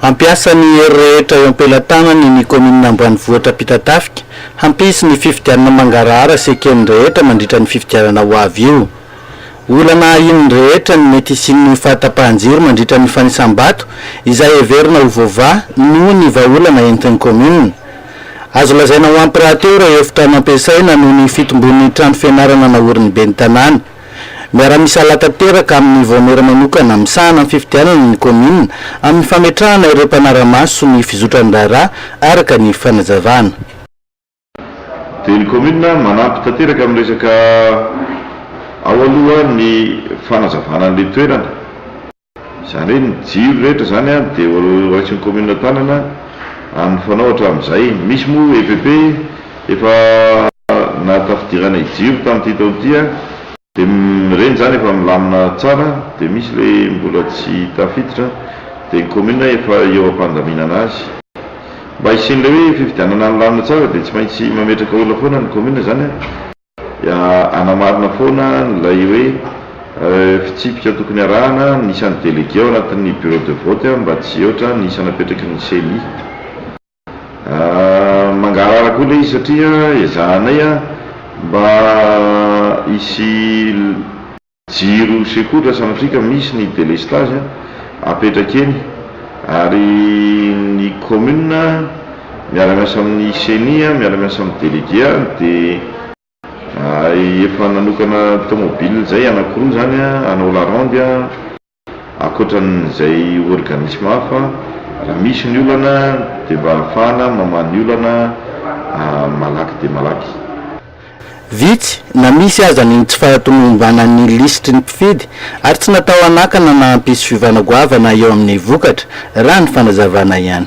Hampiasa ny hery rehetra eo am-pelatanany ny kaominina ambanivohitra Ampitatafika hampisy ny fifidianana mangarahara sy eken'ny rehetra mandritra ny fifidianana ho avy io. Olana ahian'ny rehetra ny mety hisian'ny fahatapahan-jiro mandritra ny fanisam-bato izay heverina ho voavaha noho ny vahaolana entin'ny kaominina. Azo lazaina ho ampy rahateo ireo efitrano ampiasaina noho ny fitombon'ny trano fianarana naorin'ny ben'ny tanàna. Miara-misalahy tanteraka amin'ny vaomiera manokana misahana ny fifidianana ny kaominina amin'ny fametrahana ireo mpanara-maso ny fizotran'ny raharaha araka ny fanazavana. Dia ny kaominina manampy tanteraka amin'ny resaka ao aloha ny fanazavana ny toerana. Izany hoe ny jiro rehetra izany dia horaisin'ny kaominina tanana amin'ny fanao hatramin'izay. Misy moa EPP efa nahatafidirana ijiro tamin'ity taona ity dia ireny izany efa milamina tsara dia misy ilay mbola tsy tafiditra dia ny kaominina efa eo am-pandaminana azy. Mba hisian'ilay hoe fifidianana nilamina tsara dia tsy maintsy mametraka olona foana ny kaominina izany. dia hanamarina foana ilay hoe fitsipika tokony harahana ny isan'ny délégué ao anatin'ny bureau de vote mba tsy hihoatra ny isa napetraky ny ceni. Mangarahara koa ilay izy satria ezahanay mba hisy. Jiro secours raha sanatria ka misy ny délestage apetraka eny ary ny commune miara miasa amin'ny ceni miara-miasa amin'ny délégué dia efa nanokana tomobile zay anakiroa zany hanao la ronde. Ankoatran'izay organisme hafa, raha misy ny olana dia mba ahafahana mamaha ny olana malaky dia malaky. Vitsy na misy aza ny tsy fahatomombanan'ny lisitry ny mpifidy ary tsy natao hanakana na hampisy fiovana goavana eo amin'ny vokatra, raha ny fanazavana ihany.